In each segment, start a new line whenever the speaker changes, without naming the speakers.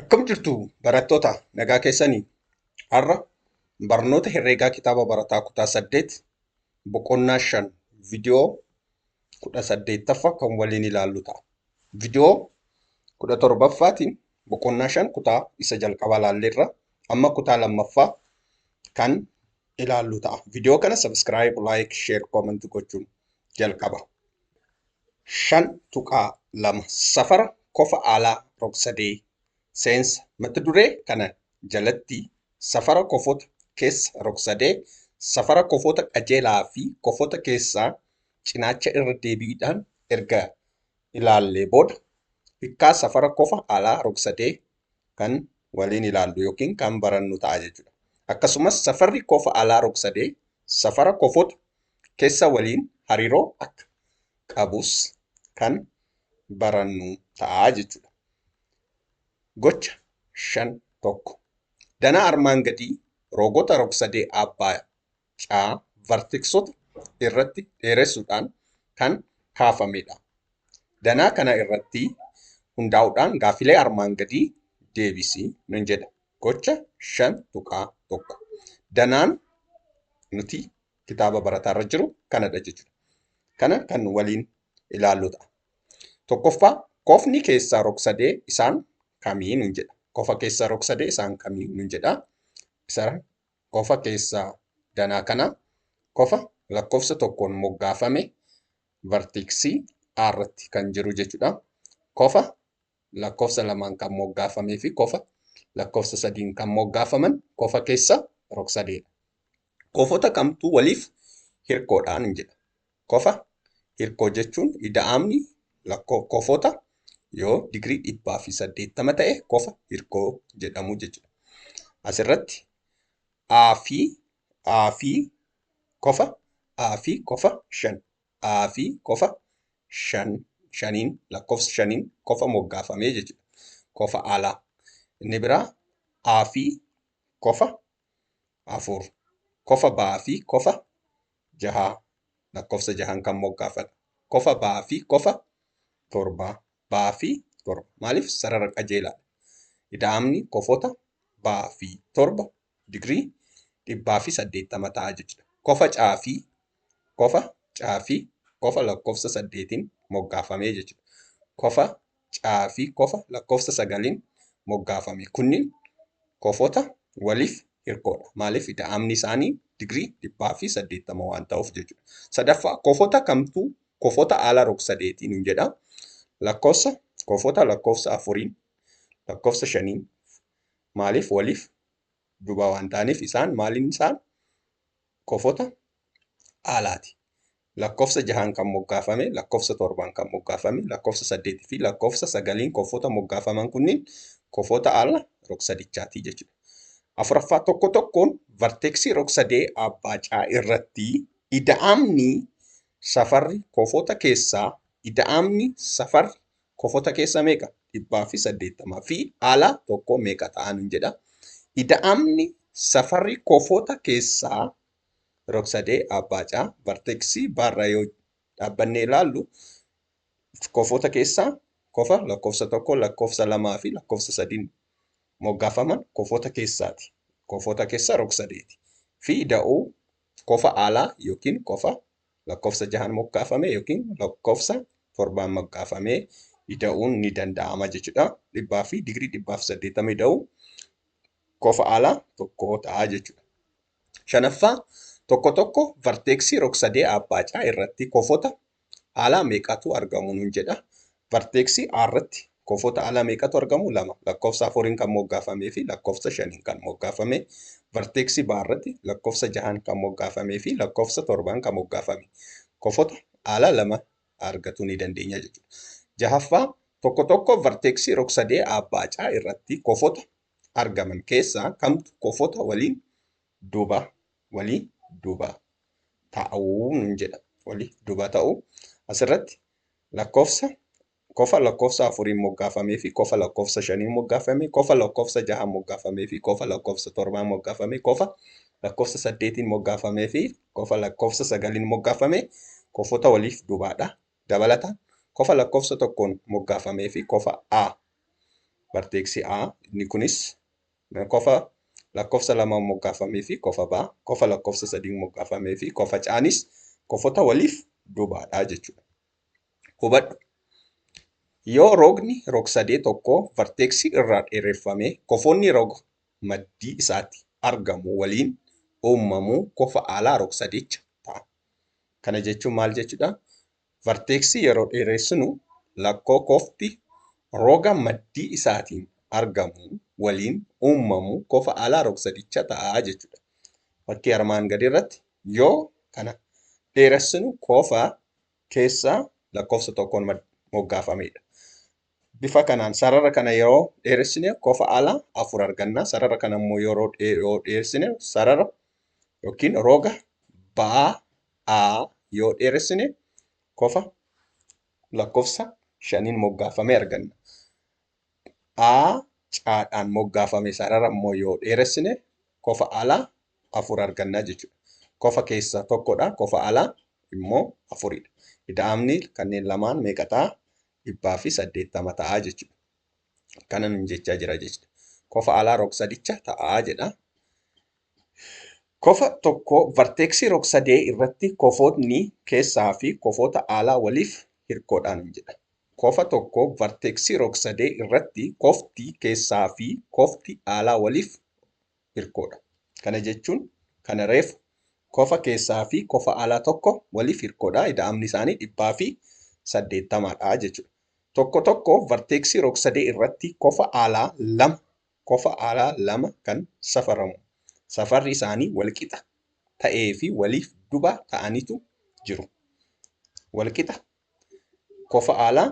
Akkam jirtu barattoota nagaa keessanii? Har'a barnoota herreegaa kitaaba barataa kutaa 8 boqonnaa 5 viidiyoo 18ffaa kan waliin ilaallu ta'a. Viidiyoo 17ffaatiin boqonnaa 5 kutaa isa jalqabaa ilaalleerra amma kutaa lammaffaa kan ilaallu ta'a. Viidiyoo kana sabiskiraayib, laayik, sheer, koomanti gochuun jalqaba. 5.2 Safara kofa alaa rogsadee seensa Mata duree kana jalatti safara kofota keessa rogsadee, safara kofota qajeelaa fi kofota keessaa cinaacha irra deebiidhaan erga ilaallee booda, hikkaa safara kofa alaa rogsadee kan waliin ilaallu yookiin kan barannu ta'a jechuudha. Akkasumas safarri kofa alaa rogsadee safara kofota kessa waliin hariiroo akka qabus kan barannu ta'a jechuudha. Gocha shan tokko. Danaa armaan gadii rogota rogsadee abbaa C. Vartiksota irratti dheeressuudhaan kan kaafamedha. Danaa kana irratti hundaa'uudhaan gaaffilee armaan gadii deebisi nun jedha. Gocha 5.1. Danaan nuti kitaaba barataa irra jiru kanadha jechuudha. Kana kan waliin ilaallu ta'a. Tokkoffaa kofni keessaa rogsadee isaan kamii nun jedha. Kofa keessaa rogsadee isaan kamii nun jedha. Isa kofa keessaa danaa kana kofa lakkofsa tokkoon moggaafame vartiiksii A irratti kan jiru jechuudha. Kofa lakkofsa lamaan kan moggaafamee fi kofa lakkofsa sadiin kan moggaafaman kofa keessa rogsadeedha. Kofota kamtu waliif hirkoodhaan jedha. Kofa, Hirkoo jechuun ida'amni lakkoo kofota yoo digirii 180 ta'e kofa hirkoo jedhamu jechuudha. Asirratti A fi A fi kofa A fi kofa 5 A fi kofa 5 shaniin lakkoofsa shaniin kofa moggaafamee jechuudha. Kofa alaa. Inni biraa A fi kofa afur. Kofa ba'aa fi kofa jahaa lakkofsa jahaan kan moggaafadha. Kofa ba'aa fi kofa torba ba'aa fi torba maaliif sarara qajeelaadha. Ida'amni kofota ba'aa fi torba digirii dhibbaa fi saddeettama ta'a jechuudha. Kofa caa fi kofa caa fi kofa lakkofsa saddeetiin moggaafamee jechuudha. Kofa C fi kofa lakkoofsa sagaliin moggaafame kunniin kofota waliif hirkoodha. Maaliif ida'amni isaanii digirii dhibbaa fi saddeettama waan ta'uuf jechuudha. Sadaffaa kofota kamtu kofota ala rogsadeetii nuun jedha. Lakkoofsa kofota lakkoofsa afuriin lakkoofsa shaniin maaliif waliif duba waan ta'aniif isaan maaliin isaan kofota alaati. Lakkofsa jahaan kan moggaafame, lakkofsa torbaan kan moggaafame, lakkofsa saddeetii fi lakkofsa sagaliin kofota moggaafaman kunniin kofota al rog-sadichaati jechuudha. Afuraffaa tokko tokkoon varteeksii rog-sadee abbaa caa irratti ida'amni safarri kofota keessaa ida'amni safarri kofota keessa meeqa? Dhibbaa fi saddeettama fi ala tokko meeqa ta'a nun jedha. Ida'amni safarri kofota keessaa Rogsadee Abbaa C. Varteeksii B irra yoo dhaabbannee ilaallu kofoota keessaa kofa lakkoofsa tokko, lakkoofsa lamaa fi lakkoofsa sadiin moggaafaman kofoota keessaati. Kofoota keessa rogsadeeti. Fi da'oo kofa alaa yookiin kofa lakkoofsa jahaan moggaafame yookiin lakkoofsa torbaan moggaafamee ida'uun ni danda'ama jechuudha. Dhibbaa fi digirii dhibbaa fi saddeettamii ida'uu kofa alaa tokko ta'a jechuudha. Shanaffaa, tokko tokko varteeksii rogsadee aabbaacaa irratti kofota alaa meeqatu argamu nuun jedha. Varteeksii A irratti kofota alaa meeqatu argamu? Lama. Lakkoofsa afuriin kan moggaafamee fi lakkoofsa shaniin kan moggaafame. Varteeksii B irratti lakkoofsa jahaan kan moggaafamee fi lakkoofsa torbaan kan moggaafame. Kofota alaa lama argatuu ni dandeenya jechuudha. Jahaffaa, tokko tokko varteeksii rogsadee aabbaacaa irratti kofota argaman keessaa kamtu kofota waliin duba walii duba ta'uu nun jedha. Walii duba ta'uu asirratti lakkoofsa kofa lakkoofsa afuriin moggaafamee fi kofa lakkoofsa shaniin moggaafamee kofa lakkoofsa jahaan moggaafamee fi kofa lakkoofsa torbaan moggaafamee kofa lakkoofsa saddeetiin moggaafamee fi kofa lakkoofsa sagaliin moggaafamee kofota waliif dubaadha Dabalataan, kofa lakkoofsa tokkoon moggaafamee fi kofa a, barteeksi a, inni kunis kofa lakkoofsa lamaan moggaafamee fi kofa b, kofa lakkoofsa sadiin moggaafamee fi kofa c nis kofota waliif dubaa dha jechuu dha. Hubadhu, Yoo rogni rogsadee tokkoo varteeksii irraa dheereffame, kofoonni roga maddii isaatti argamu waliin uummamu kofa aalaa rogsadeecha ta'a. Kana jechuun maal jechuudha? Varteeksii yeroo dheeressinu lakkoo kofti roga maddii isaatiin argamu waliin uummamu kofa alaa rogsadicha ta'a jechuudha. Fakkii armaan gadii irratti yoo kana dheeressinu kofa keessaa lakkoofsa tokkoon moggaafamedha. Bifa kanaan sarara kana yeroo dheeressine kofa ala afur arganna. Sarara kana immoo yeroo yoo dheeressine sarara yookiin roga ba'aa yoo dheeressine kofa lakkoofsa shaniin moggaafame arganna. A caadhaan moggaafame sarara immoo yoo dheeressine kofa ala afur arganna jechuudha. Kofa keessa tokkodha, kofa ala immoo afuridha. Ida'amni kanneen lamaan meeqa ta'a? dhibbaa fi saddeettama ta'aa jechuudha. Kana nun jechaa jira jechuudha. Kofa alaa rogsadicha ta'aa jedha. Kofa tokko varteeksii rogsadee irratti kofootni keessaa fi kofoota alaa waliif hirkoodhaan hin jedha. Kofa tokko varteeksii rogsadee irratti kofti keessaa fi kofti alaa waliif hirkoodha. Kana jechuun kana reefu kofa keessaa fi kofa alaa tokko waliif hirkoodha. Ida'amni isaanii 180 dha jechuudha. Tokko tokko varteeksii rogsadee irratti kofa alaa lama kofa alaa lama kan safaramu safarri isaanii walqixa ta'ee fi waliif duba ta'anitu jiru. Walqixa kofa alaa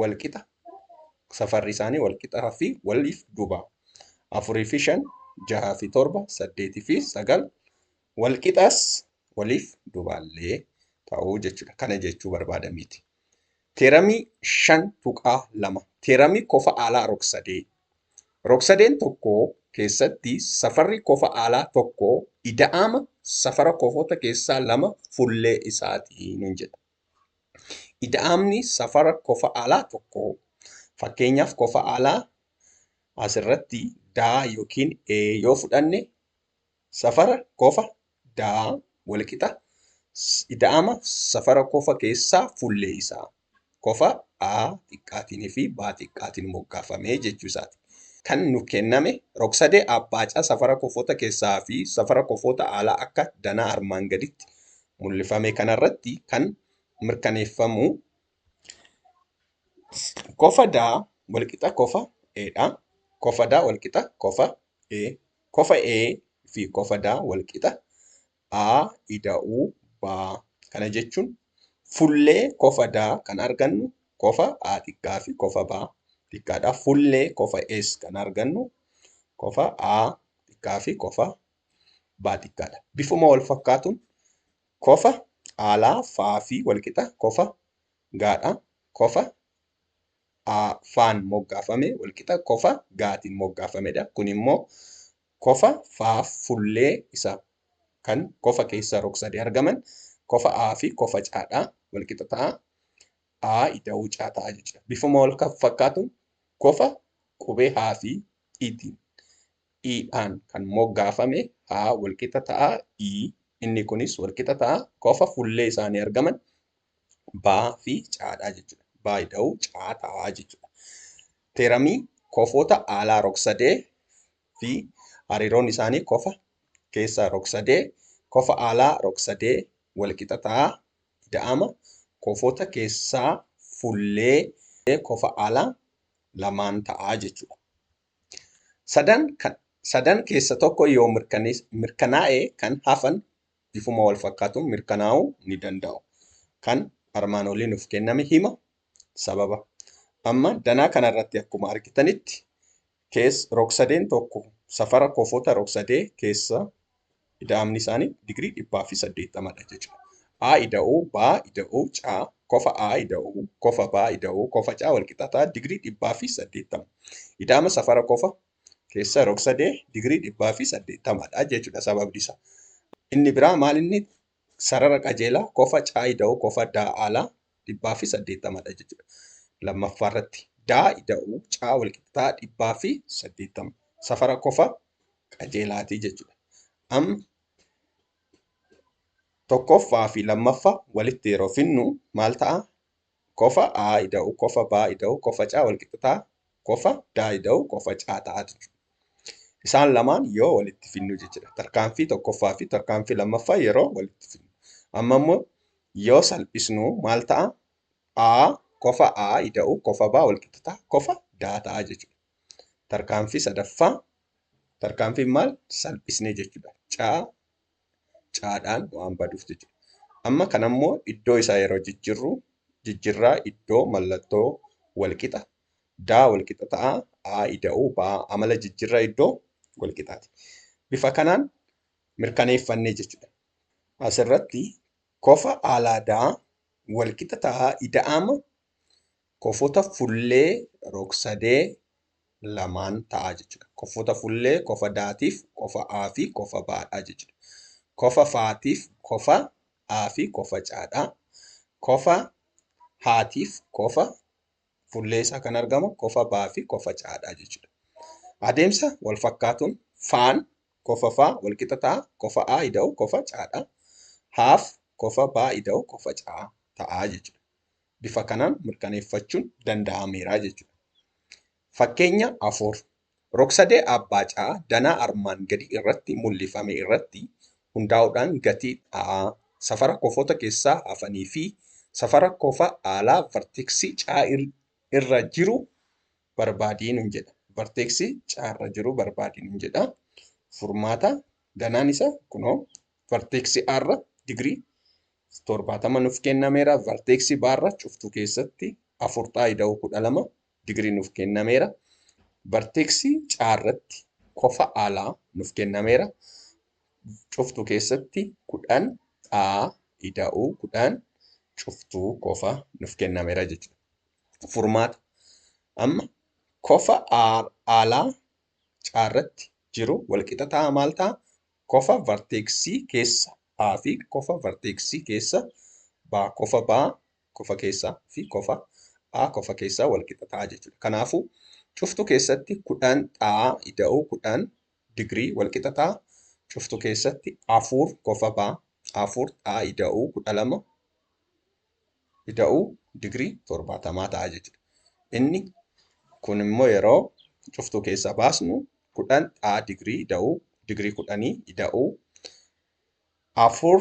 wal qixa safarri isaanii wal qixaa fi waliif duuba afurii fi shan jahaa fi torba saddeetii fi sagal wal qixaas waliif dubaallee ta'uu jechuudha. Kana jechuu barbaadameeti. Teeramii shan tuqaa lama teeramii kofa aalaa rogsadee rogsadeen tokko keessatti safarri kofa aalaa tokko ida'ama safara kofoota keessaa lama fullee isaati nun jedha. Ida'amni safara kofa alaa tokkoo fakkeenyaaf kofa alaa asirratti D yookiin E yoo fudhanne safara kofa D walqixa ida'ama safara kofa keessaa fuullee isaa kofa A xiqqaatiin fi B xiqqaatiin moggaafamee jechuu isaati. Kan nu kenname rogsadee abbaa caa safara kofoota keessaa fi safara kofoota alaa akka danaa armaan gaditti mul'ifame kanarratti kan mirkaneeffamu kofa D walqixa kofa E dha. Kofa D walqixa kofa E. Kofa E fi kofa D walqixa A ida'uu B. Kana jechuun fullee kofa D kan argannu kofa A xiqqaa fi kofa B xiqqaadha. Fullee kofa S kan argannu kofa A xiqqaa fi kofa baa xiqqaadha. Bifuma wal fakkaatuun kofa aalaa faa fi walqixa kofa gaadha. Kofa aa faan moggaafame walqixa kofa gaatiin moggaafamedha. Kun immoo kofa faa fullee isa kan kofa keessa rog-sadee argaman kofa aa fi kofa caadha. Walqixa ta'a. Aa ida'uu caa ta'a jechuudha. Bifuma wal fakkaatuun kofa qubee haa fi itiin i dhaan kan moggaafame h walqixa ta'a i inni kunis walqixa ta'a kofa fullee isaanii argaman b fi c dha jechuudha. b ida'uu c ta'a jechuudha. Teeramii kofoota aalaa rogsadee fi hariiroon isaanii kofa keessa rogsadee kofa aalaa rogsadee walqixa ta'a ida'ama kofoota keessaa fullee kofa aalaa lamaan ta'a jechuudha. Sadan keessa tokko yoo mirkanaa'e kan hafan bifuma walfakkaatuun mirkanaa'uu ni danda'u. Kan armaan olii nuuf kenname hima, sababa. Amma danaa kanarratti akkuma argitanitti rogsadeen tokko safara kofoota rogsadee keessa Ida'amni isaanii digirii 180 dha jechuudha. A ida'oo B ida'oo C kofa A ida'oo kofa B ida'oo kofa C walqixataa digirii 180. Ida'ama safara kofa keessa rogsadee digirii 180 dha jechuudha sababni isaa. Inni biraa maal inni sarara qajeelaa kofa C ida'oo kofa D alaa dhibbaa fi saddeettama dha jechuudha. Lammaffaa irratti daa ida'uu caa walqixxaa dhibbaa fi saddeettama safara kofa qajeelaati jechuudha. Am tokkoffaa fi lammaffaa walitti yeroo finnu maal ta'a? Kofa aa ida'uu kofa baa ida'uu kofa caa walqixxaa qofa daayida'u qofa caata'a jechuudha. Isaan lamaan yoo walitti finnu jechuudha. Tarkaanfii tokkoffaa fi tarkaanfii lammaffaa yeroo walitti finnu. Amma immoo yoo salphisnu maal ta'a? A kofa A ida'u kofa B walqixa ta'a kofa D ta'a jechuudha. Tarkaanfii sadaffaa tarkaanfiin maal salphisne jechuudha. Caa caadhaan waan baduuf jechuudha. Amma kanammoo iddoo isaa yeroo jijjirru jijjirraa iddoo mallattoo walqixa daa walqixa ta'a a ida'uu ba amala jijjirra iddoo walqixaati. Bifa kanaan mirkaneeffannee jechuudha. Asirratti kofa alaa daa walqixa ta'a ida'ama kofota fullee rogsadee lamaan ta'a jechuudha. Kofota fullee kofa daatiif kofa a fi kofa baadha jechuudha. Kofa faatiif kofa a fi kofa caadha. Kofa haatiif kofa Fuullee isaa kan argamu kofa baa fi kofa caa dha jechuudha. Adeemsa wal fakkaatuun faan kofa faa wal qixa ta'a. Kofa aa ida'u kofa caa dha. Haaf kofa baa ida'u kofa caa ta'a jechuudha. Bifa kanaan mirkaneeffachuun danda'ameera jechuudha. Fakkeenya afur Rogsadee Aabbaacaa danaa armaan gadii irratti mul'ifame irratti hundaa'uudhaan gatii dha'aa, safara kofoota keessaa hafanii fi safara kofa aalaa varteeksii C irra jiru barbaadi nun jedha. Varteeksii C irra jiru barbaadi nun jedha. Furmaata danaan isa kunoo varteeksii A irra digirii 70 nuf kennameera. Varteeksii B irra cuftuu keessatti 4 ta'a ida'uu 12 Digrii nuuf kennameera. Barteeksi caa irratti kofa alaa nuuf kennameera. Cuftuu keessatti kudhan dhaa ida'uu kudhan cuftuu kofa nuuf kennameera jechuudha. Furmaata. Amma kofa alaa caa irratti jiru walqixa ta'a maal ta'a? Kofa varteeksii keessa A fi kofa varteeksii keessa baa kofa baa kofa keessaa fi kofa a kofa keessaa wal qixa ta'a jechuudha. Kanaafuu cuftu keessatti kudhan xaa ida'u kudhan digirii wal qixa ta'a. Cuftu keessatti afur kofa ba afur xaa ida'u kudha lama ida'u digirii torbaatamaa ta'a jechuudha. Inni kun immoo yeroo cuftu keessaa baasnu kudhan xaa digirii ida'u digirii kudhanii ida'u afur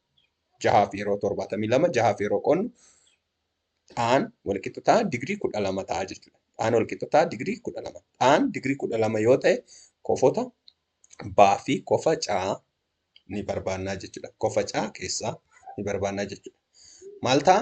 jahaa fi yeroo torbaatamii lama jahaa fi yeroo qonnu dhaan walqixa ta'a digirii kudha lama ta'a jechuudha. Dhaan walqixa ta'a digirii kudha lama. Dhaan digirii kudha lama yoo ta'e kofota baa fi kofa caa ni barbaannaa jechuudha. Kofa caa keessaa ni barbaannaa jechuudha. Maal ta'a?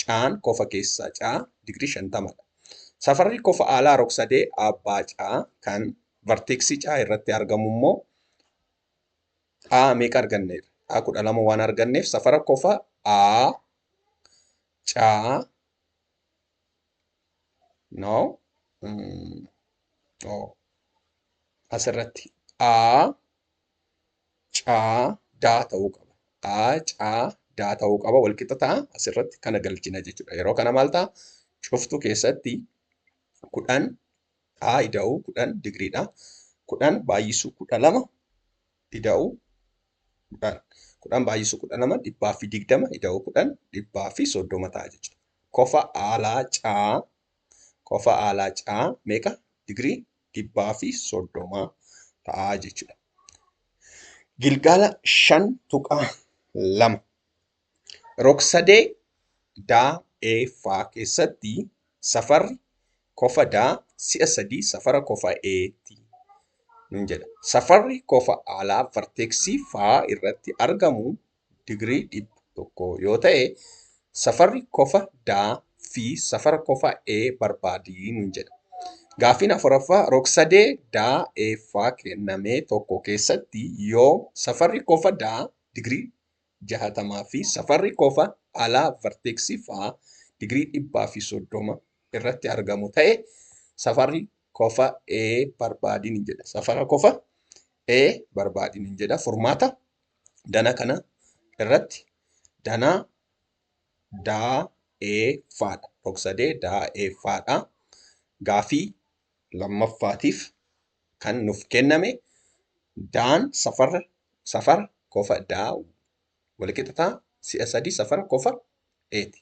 caan kofa keessaa caa digirii 50 dha. Safarri kofa aalaa rogsadee abbaa caa kan varteeksii caa irratti argamu immoo caa meeqa arganneerra? Caa 12 waan arganneef safara kofa A caa no mm, oh. asirratti A caa daa ta'uu qaba. A caa daa ta'uu qaba wal qixa ta'a asirratti kana galchina jechuudha. Yeroo kana maal ta'a? Cuftuu keessatti kudhan A ida'uu kudhan digiriidha. Kudhan baay'isuu kudha lama ida'uu kudhan. Kudhan baay'isuu kudha lama dhibbaa fi digdama ida'uu kudhan dhibbaa fi soddoma ta'a jechuudha. Kofa aalaa caa kofa aalaa caa meeqa digirii dhibbaa fi soddomaa ta'a jechuudha. Gilgaala shan tuqaa lama rogsadee daa ee faa keessatti safarri kofa daa si'a sadii safara kofa eeti nun jedha. Safarri kofa alaa varteeksii faa irratti argamu digirii 100 yoo ta'e safarri kofa D fi safara kofa E barbaadi nuun jedha. Gaaffiin afuraffaa rogsadee D E ffaa kenname tokko keessatti yoom safarri kofa D digirii 60 fi safarri kofa alaa varteeksii faa digirii 130 irratti argamu ta'e safarri kofa E barbaadi nuun jedha. Safara kofa E barbaadi nuun jedha. Furmaata. Dana kana irratti danaa daa ee faadha. Rogsadee daa ee faadha. Gaafii lammaffaatiif kan nuuf kenname daan safara safara kofa daa walqixa ta'a si'a sadii safara kofa eeti.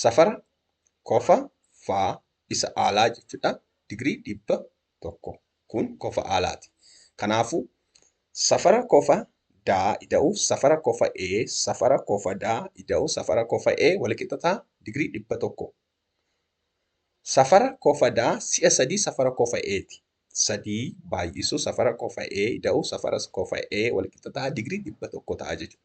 Safara kofa faa isa aalaa jechuudha. Digirii dhibba 1. Kun kofa aalaati. Kanaafuu, safara kofa daa ida'uuf safara kofa A safara kofa daa ida'u safara kofa A walqixa ta'a digirii 100. Safara kofa daa si'a 3 safara kofa A ti. 3 baay'isu safara kofa A ida'u safara kofa A walqixa ta'a digirii 100 ta'a jechuudha.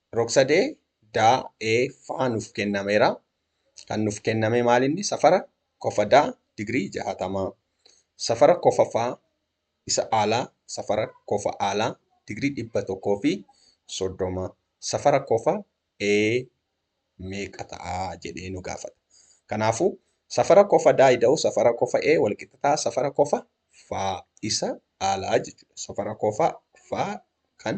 Rogsadee daa ee ffaa nuuf kennameera. Kan nuuf kenname maalinni safara kofadaa digirii jahaatamaa. Safara kofafaa isa aalaa safara kofa aalaa digirii dhibba tokkoo fi soddoma. Safara kofa ee meeqa ta'a jedhee nu gaafata. Kanaafuu safara kofadaa ida'u safara kofa ee walqixa ta'a safara kofa ffaa isa aalaa jechuudha. Safara kofa ffaa kan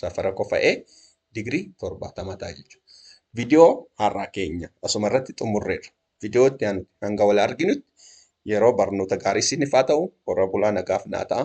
safara qofa'ee digirii 70 ta'a jechuudha. Viidiyoo har'aa keenya asuma irratti xumurreerra. Viidiyoo itti aanu hanga wal arginutti yeroo barnoota gaarii isiniif haa ta'u warra bulaa nagaaf naa ta'a.